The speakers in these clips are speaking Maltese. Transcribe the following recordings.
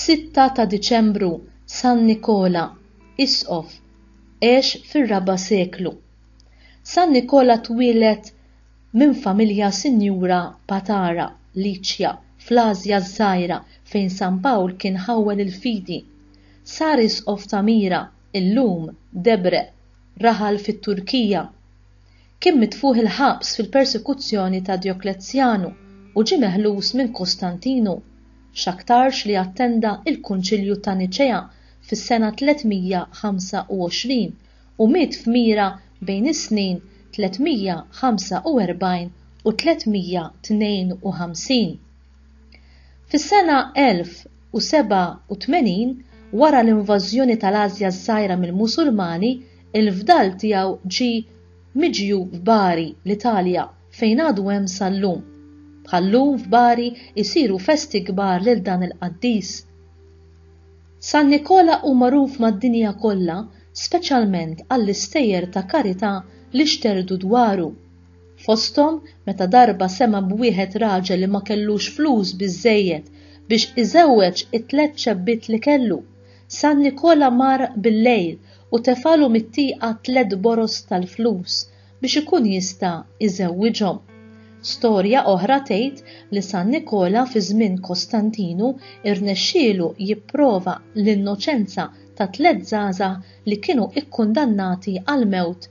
Sitta ta' Diċembru San Nikola, Isqof, għex fir-raba' seklu. San Nikola twieled minn familja sinjura Patara, Liċja, fl-Ażja ż-Żgħira fejn San Pawl kien ħawwel il-fidi. Sar Isqof ta' Mira, illum Debre, raħal fit-Turkija. Kien mitfugħ il-ħabs fil-persekuzzjoni ta' Dioklezzjanu u ġie meħlus minn Kostantinu, x'aktarx li attenda il-Kunċilju ta' Niċea fis-sena 325 u miet f'Mira bejn is-snin 345 u 352. Fis-sena 1087, wara l-invażjoni tal-Ażja ż-Żgħira mill-Musulmani, il-fdal tiegħu ġie miġjub f'Bari, l-Italja, fejn għadu hemm sal-lum. Bħal-lum f'Bari jsiru festi kbar lil dan il-qaddis. San Nikola hu magħruf mad-dinja kollha speċjalment għall-istejjer ta' karità li xterdu dwaru. fosthom meta darba sema' b'wieħed raġel li ma kellux flus biżżejjed biex iżewweġ it-tliet ċebbiet li kellu, San Nikola mar bil-lejl u tefagħlu mit-tieqa tliet boroż tal-flus biex ikun jista' iżewwiġhom. Storja oħra tgħid li San Nikola fi żmien Kostantinu rnexxielu jipprova l-innoċenza ta' tliet żgħażagħ li kienu kkundannati għall-mewt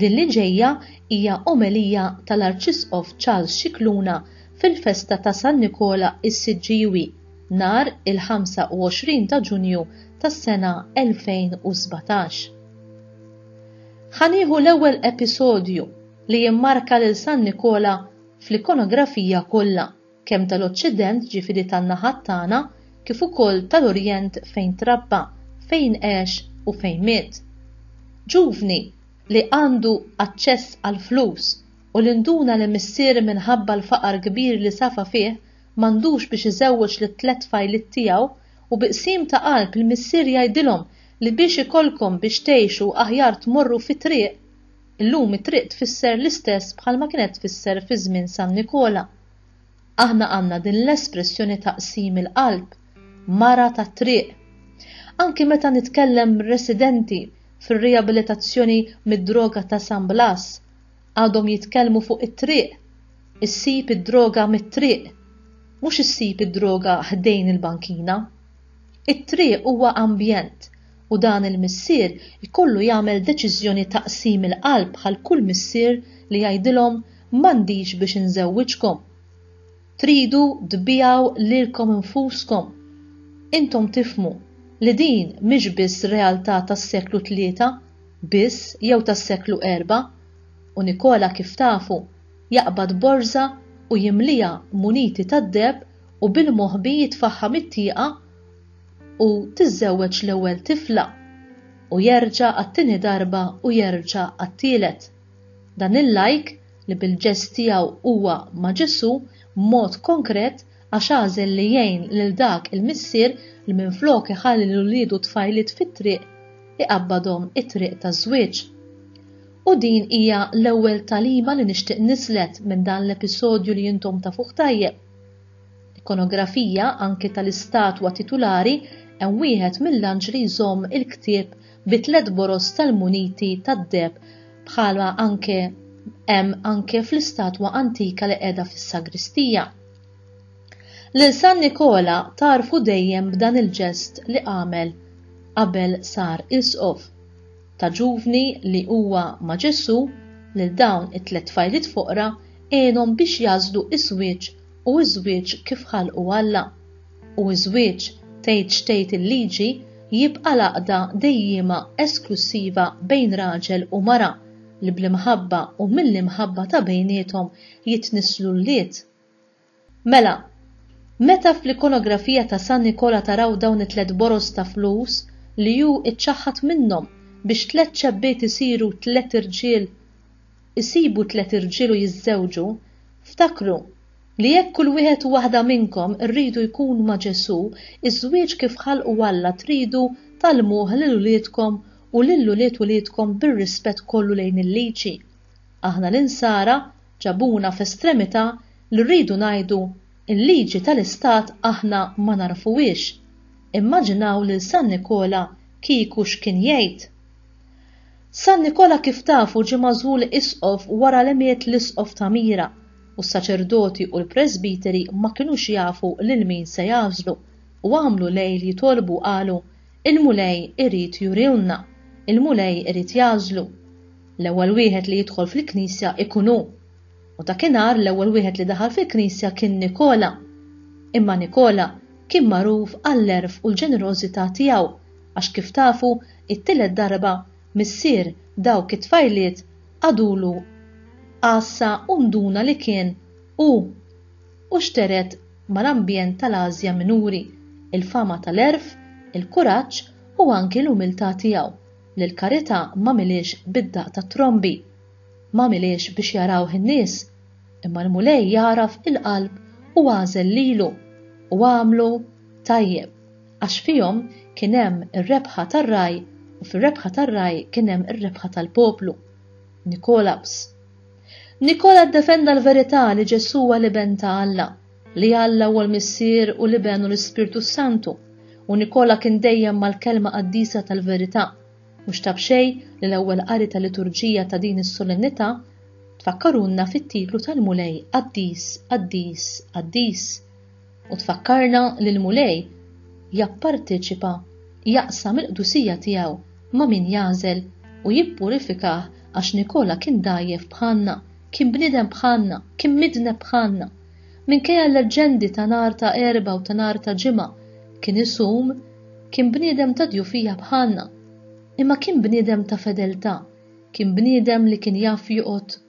Din li ġejja hija omelija tal-Arċisqof Charles Scicluna fil-festa ta' San Nikola s-Siġġiewi nhar il-25 ta' Ġunju tas-sena 2017. Ħa nieħu l-ewwel episodju li jimmarka lil San Nikola fl-ikonografija kollha. kemm tal-Oċċident, jiġifieri tan-naħat tagħna, kif ukoll tal-Orjent fejn trabba, fejn għex u fejn miet. Ġuvni li għandu aċċess għall-flus u li nduna li missier minħabba l-faqar kbir li safa fih m'għandux biex iżewweġ lit-tliet tfajliet tiegħu u bi qsim ta' qalb il-missier jgħidilhom li biex ikollkom biex tgħixu aħjar tmorru fit-triq Illum it-triq tfisser l-istess bħalma kienet tfisser fi żmien San Nikola. Aħna għandna din l-espressjoni ta' qsim il-qalb, mara tat-triq. Anki meta nitkellem residenti fir-riabilitazzjoni mid-droga ta' San Blas, għadhom jitkellmu fuq it-triq. Issib id-droga mit-triq, mhux issib id-droga ħdejn il-bankina. It-triq huwa ambjent u dan il-missier ikollu jagħmel deċiżjoni ta' qsim il-qalb bħal kull missier li jgħidilhom m'għandix biex inżewwiġkom. Tridu tbiegħu lilkom infuskom. Intom tifhmu li din mhix biss realtà tas-seklu tlieta biss jew tas-seklu erbgħa u Nikola kif tafu jaqbad borża u jimliha muniti tad-deheb u bil-moħbi jitfaħħam it-tieqa u tiżżewweġ l-ewwel tifla u jerġa' għat-tieni darba u jerġa' għat-tielet. Dan il-lajk li bil-ġest tiegħu huwa ma' Ġesù b'mod konkret għax għażel li jgħin lil dak il-missier li minflok iħalli lil uliedu tfajliet fit-triq iqabbadhom it-triq taż-żwieġ. U din hija l-ewwel tagħlima li nixtieq nislet minn dan l-episodju li intom tafuh tajjeb. Ikonografija anki tal-istatwa titulari hemm wieħed mill-anġli li jżomm il-ktieb bi tliet boroż tal-muniti tad-deheb bħala anke hemm anke fl-istatwa antika li qiegħda fis-sagristija. Lil San Nikola tagħrfu dejjem b'dan il-ġest li għamel qabel sar Isqof. ta' ġuvni li huwa ma' Ġesù lil dawn it-tliet tfajliet foqra għenhom biex jagħżlu ż-żwieġ u ż-żwieġ kif ħalqu Alla. U ż-żwieġ, tgħid x'tgħid il-Liġi, jibqa' l-għaqda dejjiema esklussiva bejn raġel u mara li bl-imħabba u mill-imħabba ta' bejniethom jitnisslu wlied. Mela, meta fl-ikonografija ta' San Nikola taraw dawn it-tliet boroż ta' flus li hu ċċaħħad minnhom biex tliet xebbiet isiru tliet irġiel isibu tliet irġiel u jiżżewġu, ftakru li jekk kull wieħed u waħda minnkom irridu jkun ma' Ġesù, iż-żwieġ kif ħalqu Alla tridu tgħallmuh lil uliedkom u lil ulied uliedkom bir-rispett kollu lejn il-liġi. Aħna l-insara, Ġabuna f'estremità li rridu ngħidu l-liġi tal-istat aħna ma nagħrfuhiex. Immaġinaw lil San Nikola kieku x'kien jgħid? San Nikola kif tafu ġie magħżul isqof wara li miet l-isqof ta' Mira u s-saċerdoti u l-presbiteri ma kinux jafu lil min se jagħżlu u għamlu lejl jitolbu qalu Il-Mulej irid jurilna, il-Mulej irid jagħżlu. L-ewwel wieħed li jidħol fil-knisja ikun hu. U dakinhar l-ewwel wieħed li daħal fil-knisja kien Nikola. Imma Nikola kien magħruf għall-għerf u l-ġenerożità tiegħu għax kif tafu it-tielet darba missier dawk it-tfajliet qagħdulu għassa u nduna li kien hu u xteret mal-ambjent tal-Ażja Minuri, il-fama tal-għerf, il-kuraġġ u anki l-umiltà tiegħu, li l-karità m'għamilhiex bid-daqq tat-trombi. M'għamilhiex biex jarawh in-nies, imma l-Mulej jagħraf il-qalb u għażel lilu u għamlu tajjeb, għax fihom kien hemm ir-rebħa tar-ragħaj u fir-rebħa tar-ragħaj kien hemm ir-rebħa tal-poplu. Nikolabs. Nikola ddefenda l-verità li Ġesù huwa l-Iben ta' Alla, li Alla huwa l-Missier u l-Iben u l-Ispirtu s-Santu, u Nikola kien dejjem mal-kelma qaddisa tal-verità. Mhux ta' b'xejn li l-ewwel qari tal-liturġija ta' din is-solennità tfakkarulna fit-titlu tal-Mulej Qaddis, Qaddis, Qaddis, u tfakkarna li l-Mulej japparteċipa jaqsam il-qdusija tiegħu ma' min jagħżel u jippurifikah għax Nikola kien dgħajjef bħalna, kien bniedem bħalna, kien midneb bħalna. Minkejja l-leġġendi ta' nhar ta' Erbgħa u ta' nhar ta' Ġimgħa, kien isum, kien bniedem ta' djufija bħalna, imma kien bniedem ta' fedeltà, kien bniedem li kien jaf joqgħod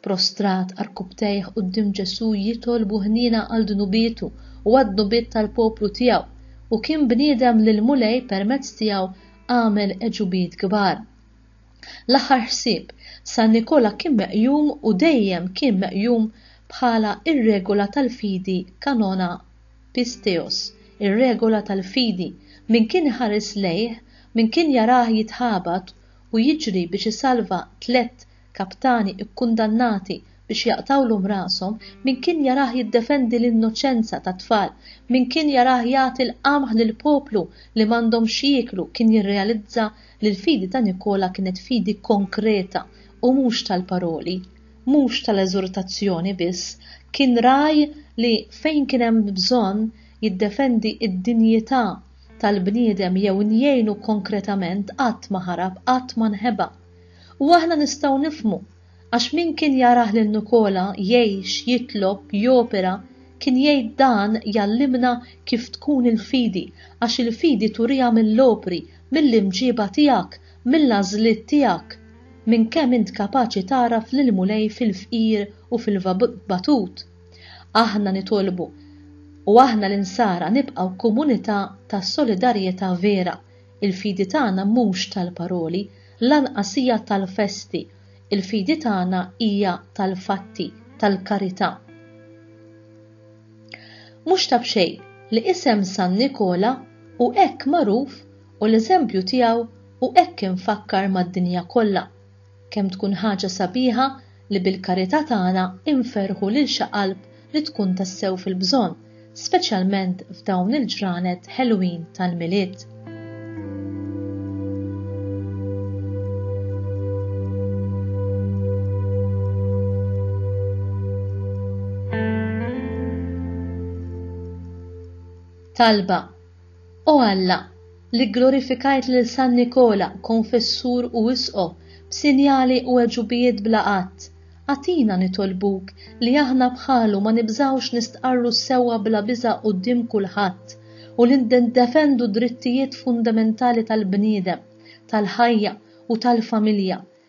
Prostrat għarkupptejh quddiem Ġesù jitolbu ħniena għal dnubietu u għad-dnubiet tal-poplu tiegħu. Hu kien bniedem li l-Mulej permezz tiegħu għamel għeġubiet kbar. L-aħħar ħsieb, San Nikola kien meqjum u dejjem kien meqjum bħala r-regola tal-fidi Kanona Pisteos, ir-regola tal-fidi, min kien iħares lejh, min kien jarah jitħabat u jiġri biex isalva tlett kaptani kkundannati biex jaqtgħulhom rashom, min kien jarah jiddefendi l-innoċenza tat-tfal, min kien jarah jagħti l-qamħ lill-poplu li m'għandhom x'jieklu kien jirrealizza li l-fidi ta' Nikola kienet fidi konkreta u mhux tal-paroli, mhux tal-eżortazzjoni biss, kien rah li fejn kien hemm bżonn jiddefendi d-dinjità tal-bniedem jew jgħinu konkretament qatt ma ħarab, qatt ma nheba. U aħna nistgħu nifhmu, għax min kien jarah lil Nikola jgħix, jitlob, jopera, kien jgħid dan jgħallimna kif tkun il-fidi, għax il-fidi turiha mill-opri, mill-imġieba tiegħek, mill-għażliet tiegħek, minn kemm int kapaċi tagħraf lill-Mulej fil-fqir u fil-batut. Aħna nitolbu, u aħna l-insara nibqgħu komunità ta' solidarjetà vera, Il-fidi tagħna mhux tal-paroli, lanqas hija tal-festi, il-fidi tagħna hija tal-fatti, tal-karità. Mhux ta' b'xejn li isem San Nikola hu hekk magħruf u l-eżempju tiegħu hu hekk imfakkar mad-dinja kollha, Kemm tkun ħaġa sabiħa li bil-karità tagħna nferrħu lil xi qalb li tkun tassew fil-bżonn, speċjalment f'dawn il-ġranet ħelwin tal-Milied. Talba, O Alla, li gglorifikajt lil San Nikola, konfessur u isqof, b'sinjali u għeġubijiet bla għadd, agħtina, nitolbuk, li aħna bħalu ma nibżgħux nistqarru sewwa bla biża' quddiem kulħadd u li niddefendu d-drittijiet fundamentali tal-bniedem, tal-ħajja u tal-familja,